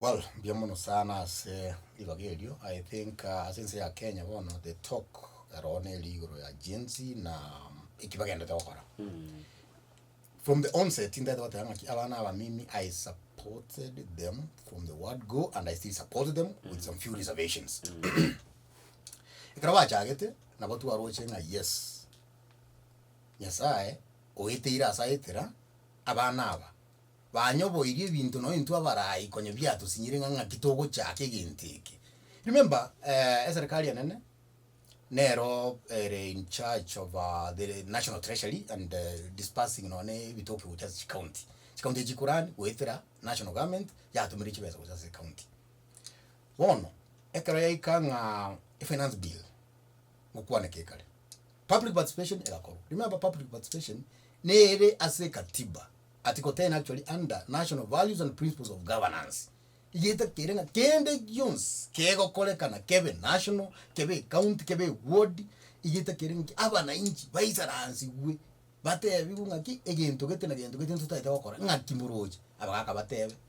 Well, mbuya mono sana ase ribaga erio. I think ah, ase ense ya Kenya bono the talk ero neri igoro ya Gen Z na eki bagendete gokora. From the onset ndete bateba ng'aki abana abamimi I supported them from the word go and I still support them with some few reservations. Ekero bachagete nabo twaroche ng'a yes Nyasaye oeteire ase aetera abana aba Banyoboirie ebinto nonya intwe abarai konya biatosinyire ng'a ng'aki togochaka egento eke. Remember eh eserikari enene nero ere in charge of ah the national treasury and disbursing nonya ebitoke gocha ase chicounty. Chicounty echi chikorani goetera national government yatumire chibesa gocha ase ecounty. Bono ekero yaika ng'a efinance bill gokwaneka ekare public participation egakorwa. Remember public participation nere ase ekatiba. Article ten actually under national values and principles of governance igeta kere ng'a kende gionsi kegokorekana kebe national kebe ecounty kebe eward igeta kere ng'a ki abanainchi baisaransigwe batebigwe ng'a ki egento gete na gento gete ntotaete gokora ng'aki moroche abagaka batebe.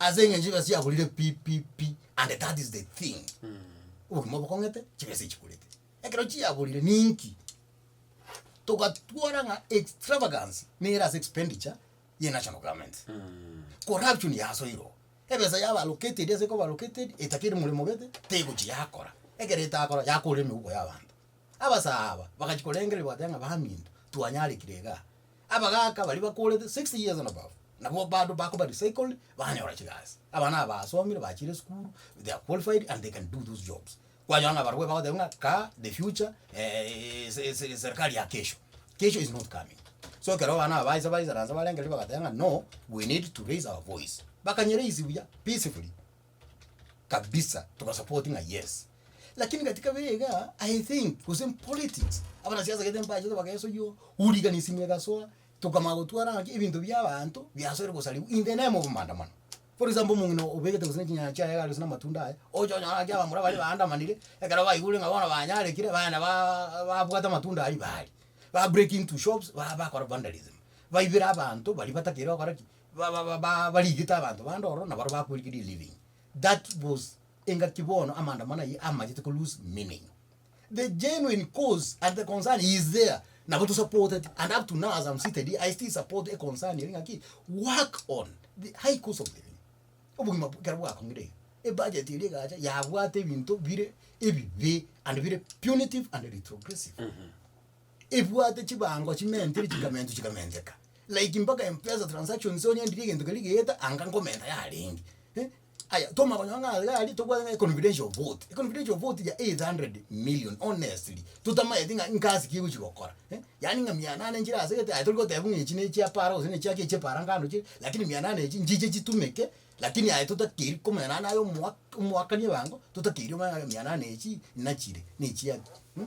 Ase engencho chibesa chiagorire pi pi pi and that is the thing. Obogima obo bokong'ete chibesa chigorete. Ekero chiagorire ninki? Togatwara ng'a extravagance nere ase expenditure ye national government. Corruption yasoirwe oo. Ebesa yaba allocated ase ekoba allocated etaka ere moremo gete tegochi yakora. Ekero etakora yakorire emeuko ya abanto. Abasaaba bagachi korengereria bagoteba ng'a baminto twanyarekire igaa. Abagaaka baria bakoorete sixty years and above, nabwo bado bakoba recycled, banyora chigasi. Abana aba basomire, bachire esukuru, they are qualified and they can do those jobs. Kwanyora na abarobwo bagoteba ng'a kaa the future se serikali ya kesho. Kesho is not coming. So ekero abana aba baisa baisaransa barenge riria bagateba ng'a no, we need to raise our voice. Bakanye raise buya peacefully. kabisa tobasapoti ng'a yes lakini katika bire igaa i think gose politics abanasiasa gete mbachete bageso yo urigani simu egasoa tokamanya gotwara ng'aki ebinto bia abanto biasoire gosariwa in the name of maandamano for example omong'ina obegete gose nechinyanya chiaye iga gose na amatunda aye ocha onyore ng'aki abamura baria baandamanire ekero baigure ng'a bono banyarekire baenda baaaa babwate amatunda aria baaria ba break into shops ba bakora vandalism baibera abanto baria batakeire gokora ki. ba ba ba ba barigete abanto bande ororo nabaro bakorigeria eliving, that was engaki bono amaandamano aywo amanyete ko loose meaning. The genuine cause and the concern is there, nabo tosapoteti and up to now as am seated here I still support econcern eri ng'aki work on the high cost of living, obogima bwa ekero bwakong'ire iga, ebudget eria egacha yabwate ebinto bire ebibe and bire punitive and retrogressive. ebwate chibango chimentire chikamentwa chikamenteka like mpaka mpesa transactions onye ndiri egento keria geeta anga nkomenta yarenge eh aya toma konyo ng'a iga aria tobwate ng'a econfidential vote econfidential vote ya eight hundred million honestly totamaeti ng'a ngasi ki egochi gokora eh yaani ng'a mia nane nchire asegete aye tori gotebiwa ng'a echi nechia para gose nechia ki echia para ngano chire lakini mia nane echi nchiche chitumeke lakini aye totakeri ko mia nane aye omoa omoakani ebango totakeri omanye ng'a mia nane echii nachire nechiaki mh.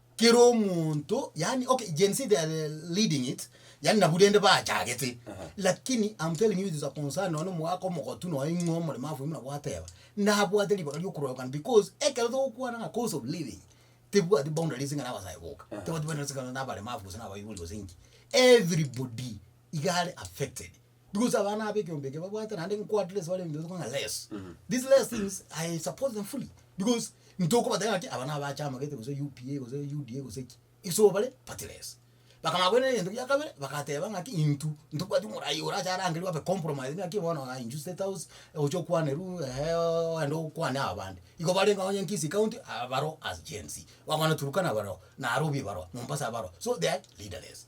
Kera omonto yani okay Gen Z they are leading it yani nabu rende bachagete lakini I'm telling you it is a concern nonya omogaka omogotu nonya ing'we omoremafu buna gwateba nabwate ribaga riokororekana because ekero togokwana ng'a cost of living tebwati boundaries ng'a nabasae boka tebwati boundaries ng'a nabaremafu gose nabaibori gose inki everybody iga are affected. Because abana aba ekeombe eke babwate naende nko at least bare ebinto bitoka ng'a less. Mhm. These less things I support them fully because ntokobateba ng'a ki aba naba achamagete gose UPA gose UDA gose ki iso bare party less. Bakamanya koirana egento gia kabere bagateba ng'a ki intwe ntobwati omoraia orache arangerwe abe compromised ng'a ki bono aye inchusi state house oche okwanerwa eeh ogende okwane aba bande. Igo barenge onye Nkisi county aa baro as Gen-z. Gwakwana Turkana baro, Narobi baro, Mombasa baro so they are leaderless.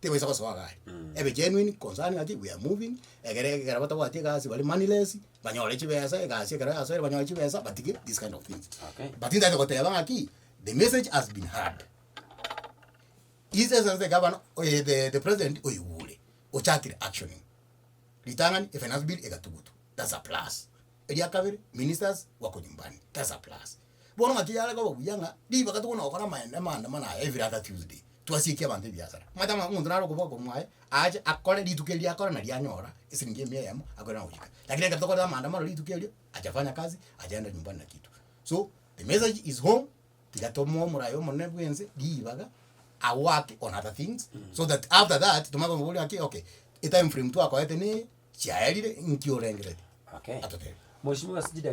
Tibaisa gosoa iga are. Ebe genuine concerning ng'aki we are moving, egere ekero batabwati egasi bare moneyless, banyore chibesa, egasi ekero yasoire banyore chibesa, batige these kind of things. Okay. But ntaete goteba ng'aki, the message has been heard. His Excellency the Governor, eh, the- the President oigure, ochakire actioning. Ritang'ani, efinance bill egatugutwa. That's a plus. Eria kabere, Ministers wako nyumbani, Tesa Plus. Bono ng'aki yare koba buya ng'a ribaga tokona gokora amaene amaandamano aya every other Tuesday, twasiekie abanto ebiasara. Omanyete ng'a omonto nare okoboa korwa mwaye, aache akore rituko erio akore nari anyora esiringi emia eyemo akoirana gochika. Lakini ekero tokorete amaandamano rituko erio, achafanya kazi, achaenda nyumbani na kitu. So, the message is home. Tiga tomoe omorayo omonene bwense ribaga a work on other things so that after that tomanye komoboria ng'aki okay etime frame twakoete neye chiaerire inki orengereti Okay. atotebie. Mheshimiwa ase chidaki.